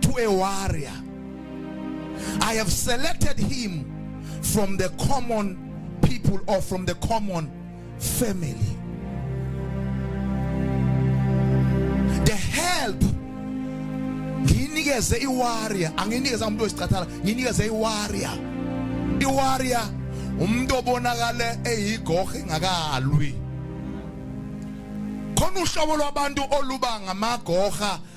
to a warrior. I have selected him from the common people or from the common family. The help nginikeze iwarrior anginikeze umuntu wesicathala nginikeze iwarrior iwarrior umuntu obonakale eyigohe ngakalwi khona uhlobo lwabantu oluba ngamagoha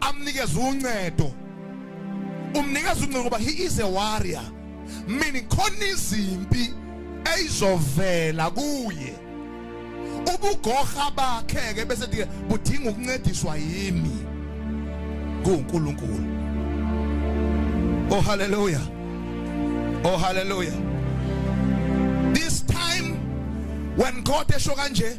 amnikeze uncedo umnikeza uncedo ngoba he is a warrior meaning khona izimpi eyizovela kuye ubugoha bakhe ke bese dike budinga ukuncediswa yimi kuNkulunkulu oh haleluya oh haleluya this time when God esho kanje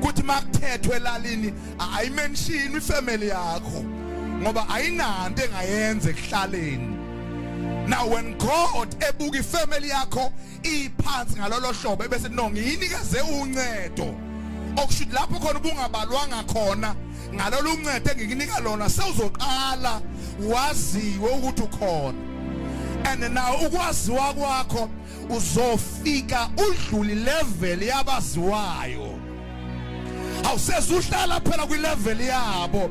kuthi makuthethwe elalini ayimenshini ifamily yakho ngoba ayinanto engayenza ekuhlaleni now when god ebuka ifamily yakho iphansi ngalolo hlobo ebese no ngiyinikeze uncedo okushuthi lapho khona ubungabalwanga khona ngalolu uncedo engikunika lona sewuzoqala waziwe ukuthi ukhona and now ukwaziwa kwakho uzofika udlule level yabaziwayo awusezuhlala phela kwi level yabo